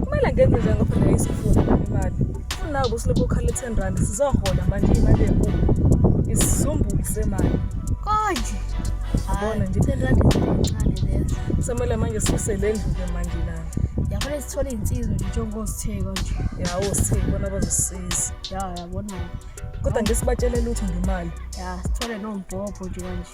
kumele ngenze njengoba phela isifuza imali kunabo silokhu ukhala i-ten rand sizohola manje imali enkulu isizumbulu semali konje yabona nje i-ten rand incane leyo kusamele manje sise le ndlu-ke manje lana yafanele sithole iy'nsizwa nje njengozitheko nje yawo sitheke bona bazosisiza ya yabona-ke kodwa nje sibatshele lutho ngemali ya sithole nombhobho nje kanje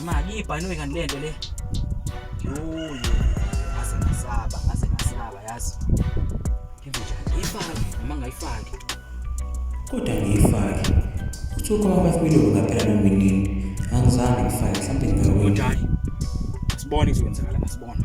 Imali ibhanoyi kanti lento le. Yoyo. Ngase ngasaba, ngase ngasaba yazi. Ngibe njani? Ngiyifake noma ngayifaki. Kodwa ngiyifake. Kuthiwa kwaba kwilungu ngaphela noma inini. Angizange ngifake mhlawumbe ngingawina. Njani? Sibone kuzokwenzakala, asibone.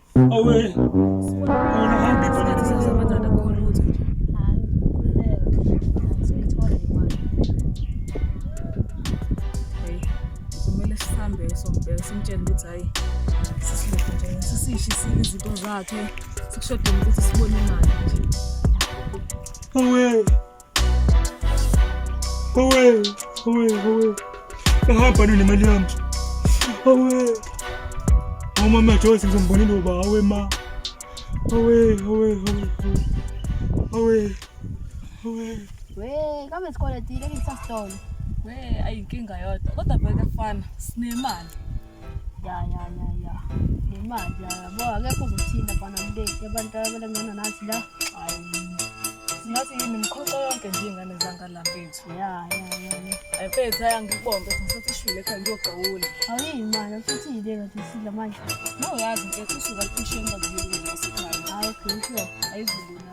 Awe. Uhambe khona sasa madada khona ukuthi. Kumele sihambe sombheka simtshele ukuthi hayi sisihle nje sisishe izinto zakhe sikushodele ukuthi sibone imali nje. Awe. Owe, owe, owe. Ngahamba nini imali yami? Owe. Umama Joyce ngizombonile uba awe ma. Owe, owe, owe. Owe. Owe. We, kama isikole tile ngisasitolo. We, ayinkinga yodwa. Kodwa bheka fana, sinemali. ya ya ya ya nemali yabo akekho uzothinta bana mleti abantu abalengana nathi la singathi yini mkhoxa yonke nje ingane zangala mfethu ya ya ya ya mfethu aya ngikubonge ngisathi ishwile ekhaya ngiyogawula awuyi mali futhi yile ngathi sidla manje no yazi mfethu usuka kushemba ngiyile ngasekhaya hayi okay sure ayizulu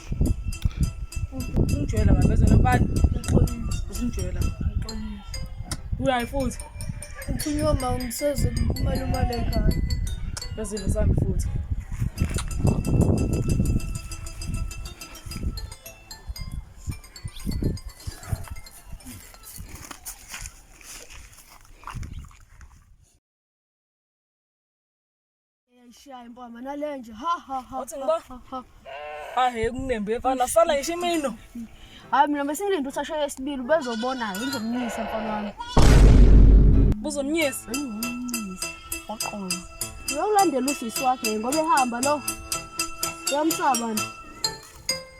Usingijwela baba bezona bani? Usingijwela. Uyayi futhi. Ukhuluma ma ngiseze kumalume le khaya. Bezile sami futhi. Eyayishaye impama nalenje. Ha ha ha. Wathi ngiba. Ha he kunembe efana sala ngisho imino. Hayi mina besingilinde ukuthi ashaye esibili ubezobona ngizomnyisa mfana wami. Buzomnyisa. Ngizomnyisa. Waqola. Uyolandela usisi wakhe ngoba ehamba lo. Yamsaba nje.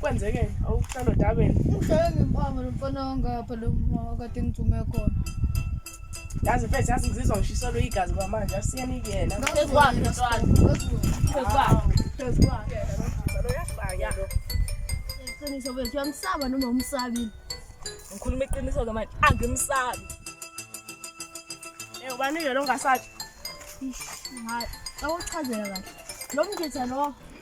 kwenzeke awuhlala odabeni ngihlale ngimpanga lo mfana wangapha lo kade ngithume khona yazi mfethu yazi ngizizwa ngishiselwe igazi kwamanje asiyeni kuyena phezukwakhe mntwana phezukwakhe phezukwakhe iqiniso bethu uyamsaba noma umsabile ngikhuluma iqiniso ke manje angimsabi eh ubanike lo ngasathi awuchazela kahle lo mgitha lo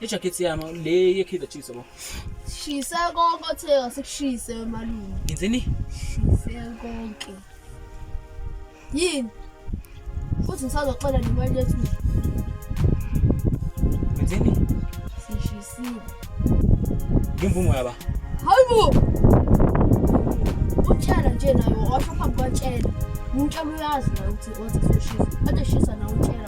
Ijakhethi yami le ye-Kaizer Chiefs yabo. Shise konke othe wasekushise wemalume. Ngenzeni? Shise konke. Yini? Futhi ngisazoxola nemali yethu. Ngenzeni? Sishisile. Ngimvumo yaba. Hayibo. Utshela nje nayo washo phambi kwatshela. Umtshela uyazi naye ukuthi wathi sishisa. Kade shisa nawe utshela.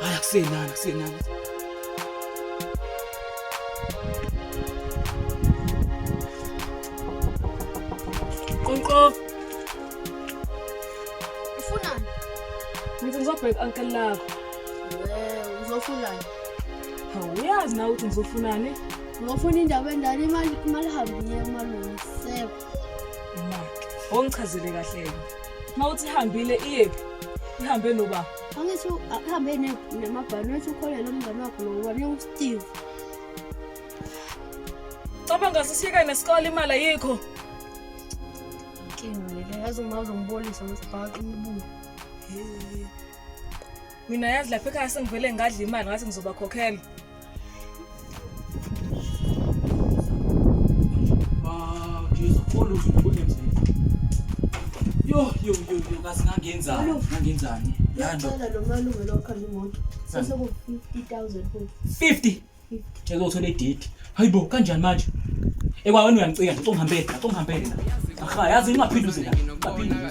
Hayi akusenani akusenani. Qonqof. Ufunani? Ngithi ngizobheka uncle lakho. Eh, uzofunani? Hawu uyazi na ukuthi ngizofunani? Ngofuna indaba endala imali imali hambile emalungu seko. Imali. Ongichazele kahle yena. Mawuthi ihambile iyephi? Ihambe noba. Angithi akuhambe namabhanothi wathi ukholelwa umngane wakho lo ubane usteve cabanga sisiyeka nesikole imali ayikho inkinga lele yazi uma uzongibolisa ngesibhaqa umbulo mina yazi lapha ekhaya sengivele ngadla imali ngathi ngizobakhokhela Yo yo yo yo kazi ngangenzani? Ngangenzani? Yando. Ngicela lo malume lo khanda imoto. Sase ku 50000 futhi. 50. Ngicela uthola idate. Hayibo kanjani manje? Ekwa wena uyangicika ngicongihambele, ngicongihambele la. Aha yazi ingaphinduzela. Ngaphinduzela.